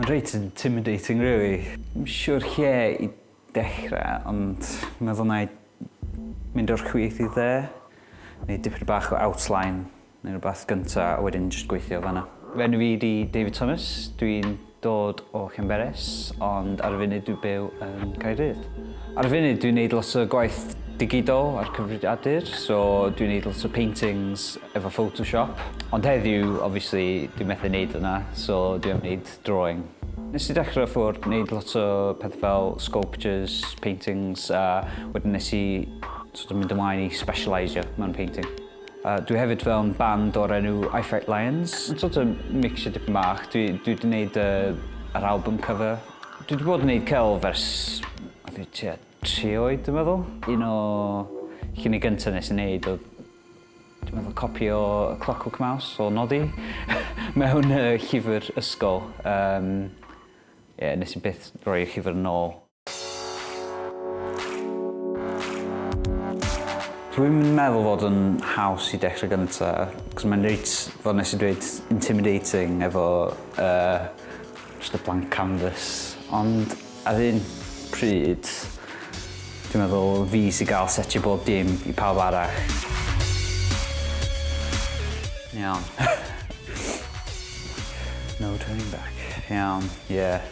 Mae'n reit intimidating, really. Yn siwr lle i dechrau, ond meddwl na i mynd o'r chwith i dde. Neu dipyn bach o outline neu rhywbeth gynta, a wedyn jyst gweithio fanna. Fy enw fi di David Thomas, dwi'n Dod o Llanberis, ond ar y funud dwi'n byw yn Caerdydd. Ar y funud dwi'n neud lot o gwaith digidol a'r cyfrifiadur, so dwi'n neud lot o paintings efo photoshop, ond heddiw obviously dwi'n methu neud hwnna, so dwi am neud drawing. Nes i dechre ffwr neud lot o pethe fel sculptures, paintings a wedyn nes i sort of mynd ymlaen i specialisio mewn painting. A dwi hefyd mewn band o'r enw I Fight Lions. Yn sort of mixio dipyn bach. Dwi dwi 'di neud yy yr album cover. Dwi 'di bod yn neud celf ers o fi tua tri oed dwi'n meddwl. Un o llunie gynta nes i neud odd dwi'n meddwl copi o y Clockwork Mouse o Noddy mewn yy llyfr ysgol. Yym ie nes i byth rhoi'r llyfr yn ôl. Dwi'n meddwl fod yn haws i dechrau gynta, cos mae'n reit, fel nes i dweud, intimidating efo uh, just a blank canvas. Ond ar un pryd, dwi'n meddwl fi sy'n gael setio bob dim i pawb arall. Iawn. no turning back. Iawn, ie. Yeah.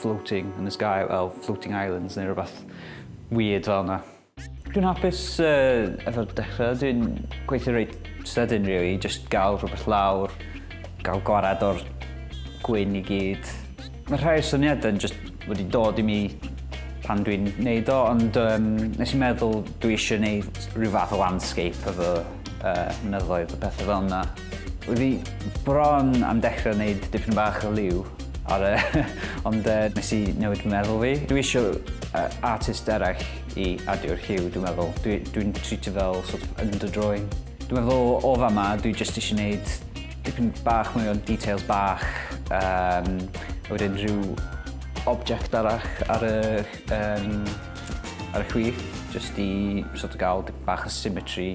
floating in the sky, fel floating islands neu rhywbeth weird fel yna. Dwi'n hapus uh, efo'r dechrau, dwi'n gweithio reit sydyn really, just gael rhywbeth lawr, gael gwared o'r gwyn i gyd. Mae rhai syniadau yn just wedi dod i mi pan dwi'n neud o, ond um, nes i'n meddwl dwi eisiau neud rhyw fath o landscape efo uh, mynyddoedd a pethau fel yna. Oedd hi bron am dechrau wneud dipyn bach o liw ar y... ond uh, nes i newid meddwl fi. Dwi eisiau uh, artist eraill i adio'r lliw, dwi'n meddwl. Dwi'n dwi, dwi treatio fel sort of underdrawing. Dwi'n meddwl o fa ma, dwi just eisiau gwneud dipyn bach mwy o details bach, um, wedyn rhyw object arall ar y um, Ar y chwith, jyst i sort of gael dipyn bach o symmetry.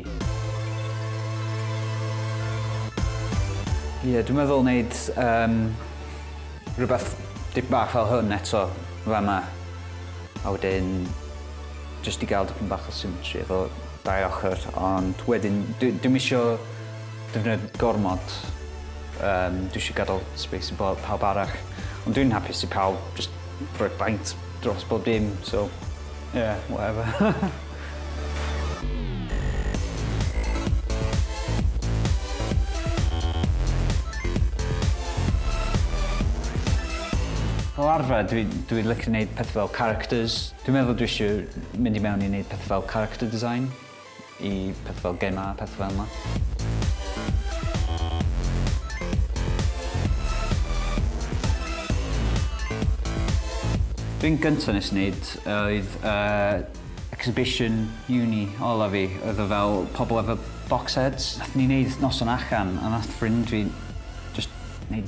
Ie, yeah, dwi'n meddwl wneud um, rhywbeth dipyn bach fel hwn eto, fe yma. A wedyn, jyst i gael dipyn bach o symmetry efo dau ochr, ond wedyn, dim isio defnyddio gormod. Um, dwi eisiau gadael space i pawb arall. Ond dwi'n hapus i pawb just Rhoi baint dros bob dim so ie whatever. Fel arfer dwi dwi licio neud pethe fel characters. Dwi'n meddwl dwi isio mynd i mewn i neud pethe fel character design. i pethau fel gemau a pethau fel 'na. Thing gynta nes i neud oedd yy exhibition uni ola fi oedd o fel pobol efo box sets. Nathon ni neud noson allan a nath ffrind fi jyst neud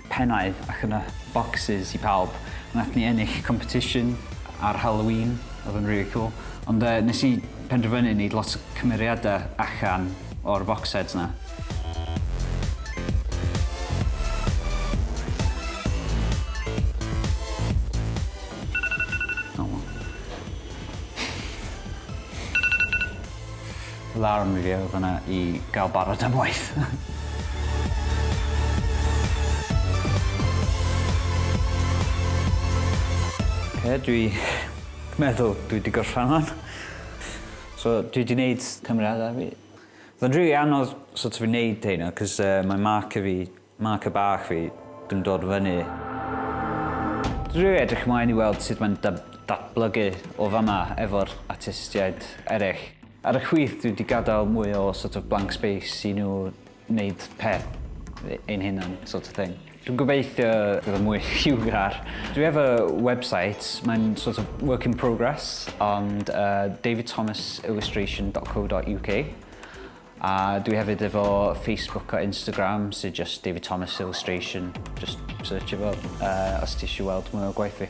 pennau ac yna bocsys i pawb. Nath ni ennill competition ar Halloween odd yn rili cwl ond yy nes i penderfynu neud lot o cymeriada allan o'r focseds 'na. Alarm fi oedd yna i gael barod am waith. Oce dwi meddwl dwi 'di gorffan wan. So dwi 'di neud cymeriada fi. Odd o'n rili anodd so't of i neud rheina 'c'os yy mae marker fi Mae ci bach fi yn dod fyny. Dwi edrych ymlaen i weld sut mae'n datblygu o fama efo'r artistiaid eraill. Ar y chwith dwi 'di gadael mwy o sort of blank space i nhw wneud peth ein hunan sort of thing. Dwi'n gobeithio bydd o'n mwy lliwgar. Dwi efo website, mae'n sort of work in progress ond yy davidthomasillustration.co.uk A dwi hefyd efo Facebook a Instagram sydd just David Thomas Illustration. Just search efo uh, os ti eisiau weld mwy o gwaith fi.